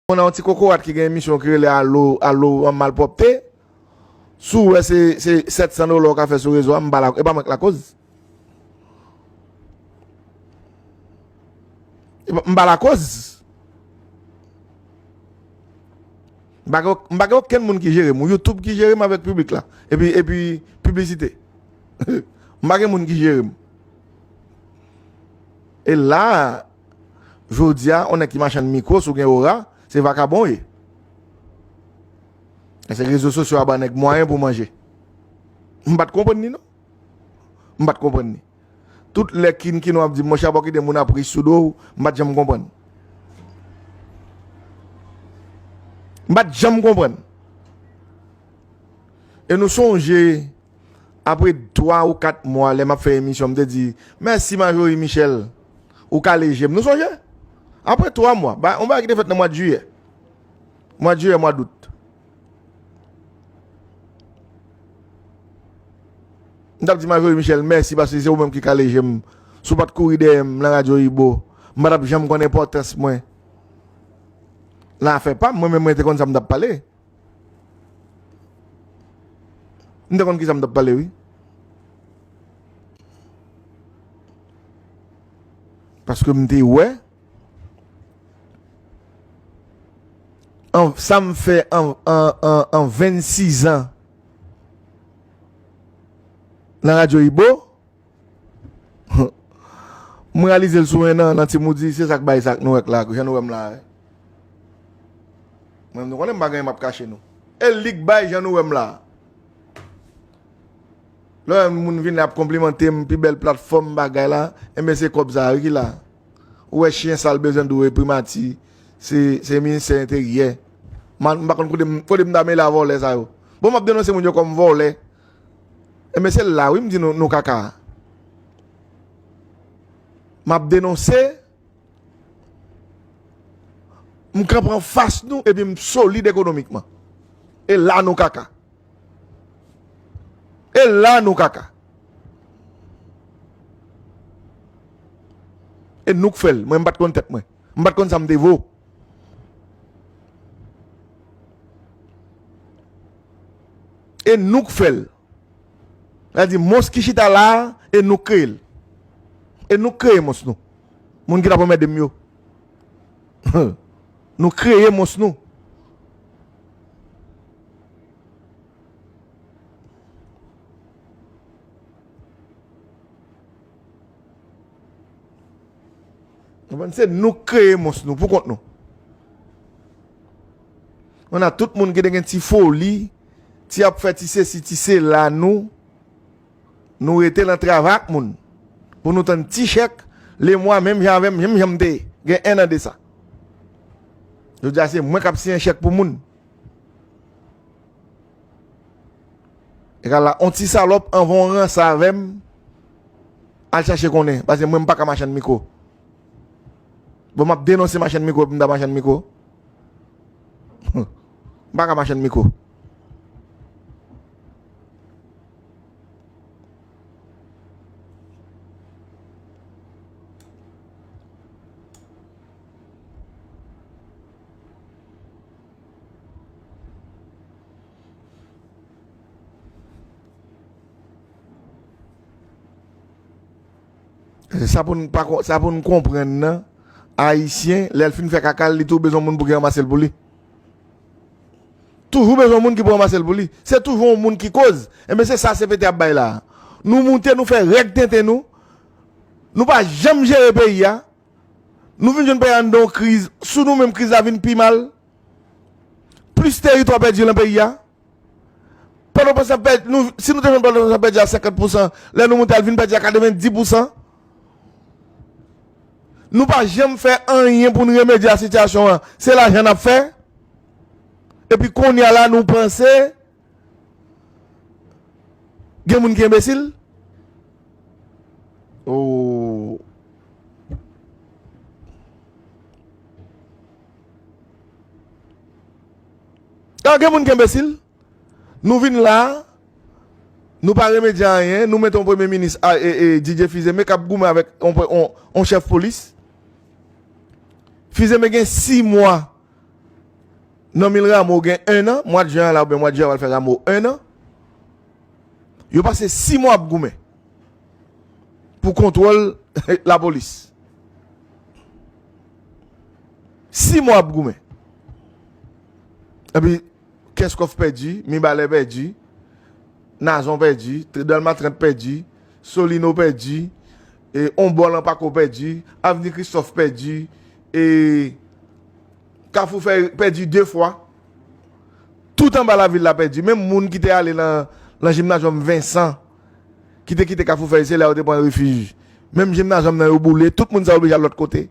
Ou nan yon ti kokorat ki gen emisyon ki rele alo alo malpwòpte, si w wè se 700 dola ou ka fè sou rezo a, m pa e pa mwen k lakoz. M pa lakoz. M pa gen m pa gen okenn moun ki jere m, YouTube ki jere m avèk piblik la epi epi piblisite. M pa gen moun ki jere m. E la Jodia on nèg ki machann mikro si w gen ora se vakabon w ye. E se rezo sosyo a ban nèg mwayen pou manje. M pat konprann li non. M pat konprann li. Tout lè kin kinon ap di m monchè a pa w kite moun ap ri sou do w, m pat janm konprann. M pat janm konprann. E nou sonje. Apre 3 ou 4 mwa lè m ap fè emisyon m te di mèsi Marjorie Michel ou kale je m nou sonje? Apre 3 mwa yon bagay ki te fèt nan mwa de jiyè mwa de jiyè mwa dout m t ap di Marjorie Michel mèsi paske se ou menm ki kale je m si w pa t kouri dèyè m nan radyo Ibo m pa t ap janm konn enpòtans mwen nan afè pa m mwen menm mwen te konn sa m t ap pale. M te konn kisa m tap pale wi. Paske m te wè sa m fè an 26 an nan radyo ibo. M reyalize l sou 1 an nan ti moudi, se sa k bay sa k nou wè k la, jan nou wè m la a. Mwen menm nou konnen m pa gen anyen m ap kache nou. E li k bay jan nou wè m la a. Lè w wè moun vin la ap konplimante m, pi bèl platfòm bagay la, enben se kòb sa a wi ki la. Ou wè chyen sal bezwen di w e primati, se ministè enteryè. M pa konn kote m ta mele a vòlè sa yo. Bon m ap denonse moun yo kòm vòlè. Enben se la wi m di nou nou kaka. M ap denonse, m kanpe anfas nou epi m solid ekonomikman. E la nou kaka. E la nou kaka. E nou k fè l, mwen m pa t konn tèt mwen. M pat konn sa m te vo. E nou k fè l. Sa vle di mons ki chita la a, e nou k kreye l. E nou k kreye mons nou. Moun ki t ap anmède m yo. Nou kreye mons nou. Konprann se nou k kreye mons nou pou kont nou. On a tout moun gen gen ti foli, ti ap fè ti se si ti se la nou nou rete lan travay ak moun pou nou tann ti chèk le mwa menm jan avèm menm janm te gen 1 an de sa. Jodia se mwen kap siyen chèk pou moun. Egal la on ti salòp anvan w ranse avè m al chache konnen paske mwen m pa ka machann mikwo bon m ap denonse machann mikwo epi m ta machann mikwo humm m pa ka machann mikwo Sa pou nou pa kon, sa pou nou konprenn nan, ayisyen, lè l fin fè kaka l, li tou bezwen moun pou ki ranmase l pou li. Toujou bezwen moun ki pou ranmase l pou li. Se toujou moun ki koz. Enben se sa CPT ap bay la. Nou moute, nou fè règ tenten nou, nou pa janm jere peyi a, nou vin jwenn peyi a anndan yon kriz, sou nou menm kriz la vin pi mal. Plis teritwa pèdi lan peyi a. Pòtoprens ap pèdi, nou, si nou te jwenn Pòtoprens ap pèdi a 50 pousan, lè nou moute al vin pèdi a 90 pousan. Nou pa janm fè anyen pou n remedye a sitiyasyon an. Se lajan n ap fè. Epi kounye a la nou panse Gen moun ki enbesil? Ooh. Ah gen moun ki enbesil? Nou vin la, nou pa remedye anyen, nou met yon premye minis Didier Fils-Aimé k ap goumen avèk yon chèf polis. Fils-Aimé gen 6 mwa Nan mil ramo gen 1 an, mwad jen an la oubyen mwad jen an pral fè ramo 1 an. Yo pase 6 mwa ap goumen pou kontwòl lapolis. 6 mwa ap goumen. Epi kèskòf pèdi, mibalè pèdi, nazon pèdi, tridalmatrant pèdi, solino pèdi. E on bò lan pako pèdi, avni kristòf pèdi e kafou fè pèdi 2 fwa. Tout anba lavil la pèdi, menm moun ki te ale lan jimnajòm vensan ki te kite kafou fèy se la yo te pran refij. Menm jimnajòm nan yo boule, tout moun sa yo oblije al lòt kote.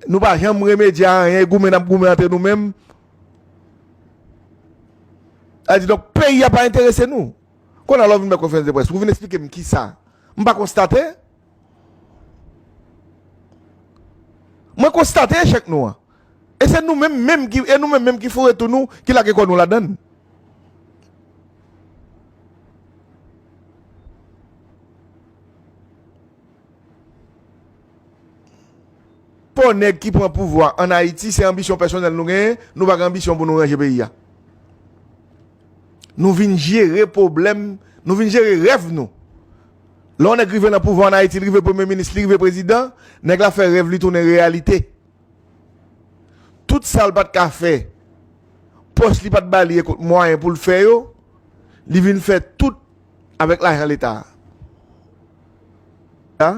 Nou pa janm remedye a anyen, goumen nap goumen antre nou menm. Sa vle di donk peyi a pa enterese nou. Konya lè w vin bay konferans de près pou vin esplike m kisa m pa konstate? Mwen konstate echèk nou an. E se nou menm menm ki e nou menm menm ki foure tou nou ki lage kò nou ladan l. Pò nèg ki pran pouvwa an Ayiti se anbisyon pèsonèl nou genyen, nou pa gen anbisyon pou nou ranje peyi a. Nou vin jere pwoblèm, nou vin jere rèv nou. Lè yon nèg rive nan pouvwa an Ayiti, li rive premye minis, li rive prezidan, nèg la fè rèv li tounen reyalite. Tout sa l pat ka fè, pòch li pat ba li ekot mwayen pou l fè yo, li vin fè tout avèk lajan leta a.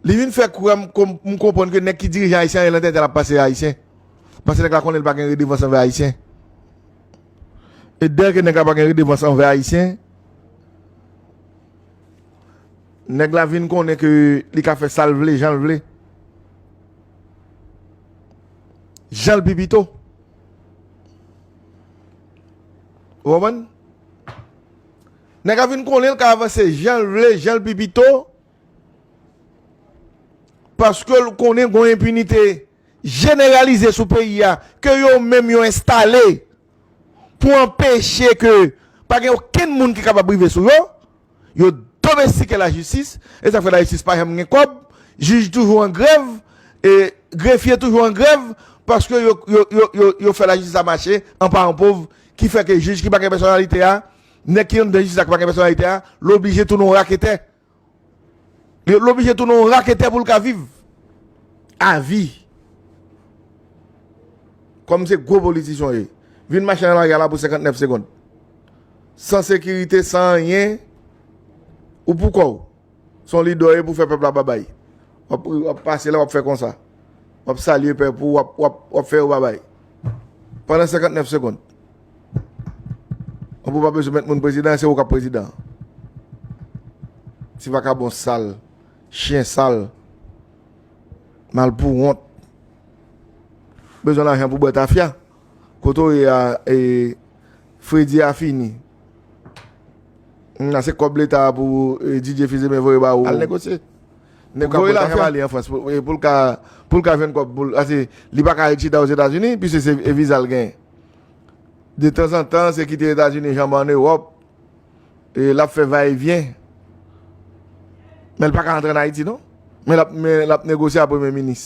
Li vin fè kwè m m konprann ke nèg ki dirije Ayisyen an, e lan tèt el ap panse e Ayisyen. Paske nèg la konnen li pa gen redevans anvè Ayisyen. E dè ke nèg la pa gen redevans anvè Ayisyen, nèg la vin konnen ke li ka fè sa l vle, jan l vle. Jan l pi pito. Ou konprann? Nèg a fin konnen l ka avanse jan l vle, jan l pi pito, paske l konnen gon enpinite jeneralize sou peyi a ke yo menm yo enstale pou anpeche ke pa gen okenn moun ki kapab rive sou yo, yo domestike lajistis, e sa k fè lajistis pa janm gen kòb, jij toujou an grèv, e grefye toujou an grèv, paske yo fè lajistis la mache an paran pov, ki fè ke jij ki pa gen pèsonalite a. Nèg ki anndan jistis la ki pa gen pèsonalite a, l oblije tounen yon raketè. L oblije tounen yon raketè pou l ka viv. Avi. Kòm se gwo politisyen w ye. Vin mache nan lari a la pou 59 segond. San sekirite, san anyen. Ou pou kò w. Son lidè w ye pou fè pèp la babay. Wap pase la wap fè konsa. Wap salye pèp pou wap fè yo babay. Pandan 59 segond. Wap ou pa bezou met moun prezidan se ou kap prezidan. Ti vakabon sal. Chien sal. Mal pou wont. Bezou lajan pou bwè tafya. Kote w ye a e fredi a fini. Nan se kob leta a pou DJ Fizeme voye ba ou. Al negosye. Neg ka voye lajan ba li an Frans pou l ka jwenn kob pou l. Pase li pa ka ret chita Ozetazini pise se viza l genyen. De tanzantan se kite Etazini janbe an Ewop e l ap fè va e vyen. Men l pa ka antre an Ayiti non. Men l ap negosye a premye minis.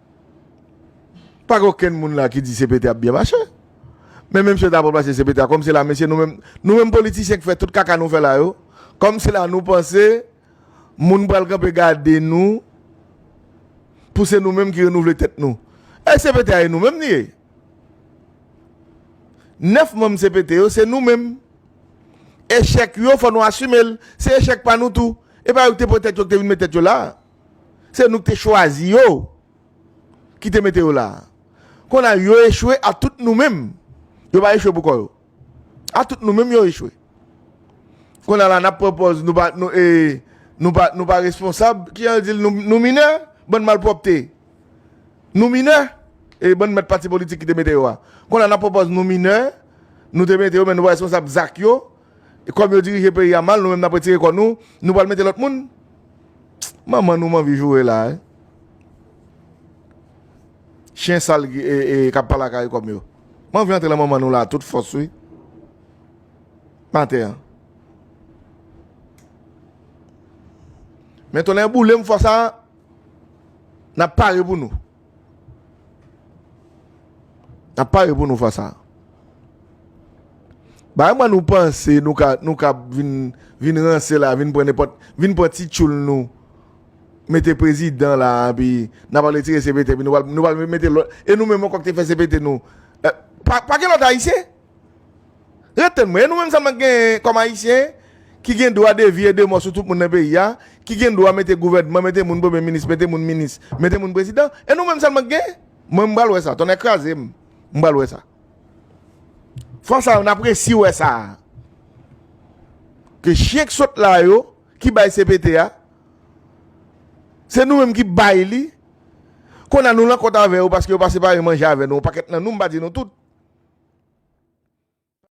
Pa gen okenn moun la ki di CPT ap byen mache. Men menm si yo ta pral pase CPT a, kòm se la mesye nou menm, nou menm politisyen ki fè tout kaka nou fè la yo, kòm se la nou panse moun pral kanpe gade nou pou se nou menm ki renouvle tèt nou. Èske CPT a e nou menm li ye? 9 manm CPT yo se nou menm. Echèk yo fò nou asime l. Se echèk pa nou tou. E pa yo ki te pran tèt yo ki te vin met tèt yo la. Se nou ki te chwazi yo, ki te mete yo la. Kon a yo echwe a tout nou menm. Yo pa echwe pou kò yo. A tout nou menm yo echwe. Kon a la nap pran pòz nou pa nou e nou pa nou pa responsab. Ki jan yo di l nou minè, bann malpwòpte. Nou minè, e bann mèt pati politik ki te mete yo a. Kon a nap pran pòz nou minè, nou te mete yo men nou pa responsab zak yo. E kòm yo dirije peyi a mal nou menm nap retire kò nou, nou pral mete lòt moun? Pst manman nou m anvi joure la wi. Chyen sal kap pale ak Arikom yo. M anvi antre lan manman nou la a tout fòs wi. Maten an. Men tonnè boule m fwa sa nap pare pou nou. N ap pare pou nou fas a. Ba mwen nou panse nou ka nou ka vin ranse la, vin pran nenpòt, vin pran ti tchoul nou, mete prezidan la, pi n ap ale tire CPT, pi nou pral mete lòt, e nou menm ankò ki te fè CPT nou, pa gen lòt ayisyen? Rete mwen, e nou menm sa nou gen kòm ayisyen ki gen dwa de vi e de mò sou tout moun nan peyi a, ki gen dwa mete gouvènman, mete moun premye minis, mete moun minis, mete moun prezidan, e nou menm sa nou gen? Mwen m pral wè sa, tonnè kraze m, m pral wè sa. Fwa sa yo n ap resi wè sa a. Ke chyen k sot la yo, ki bay CPT a, se nou menm ki bay li, Konnya nou lan kont avè yo paske yo pa separe manje avè nou yon pakèt nan nou, m pa di nou tout.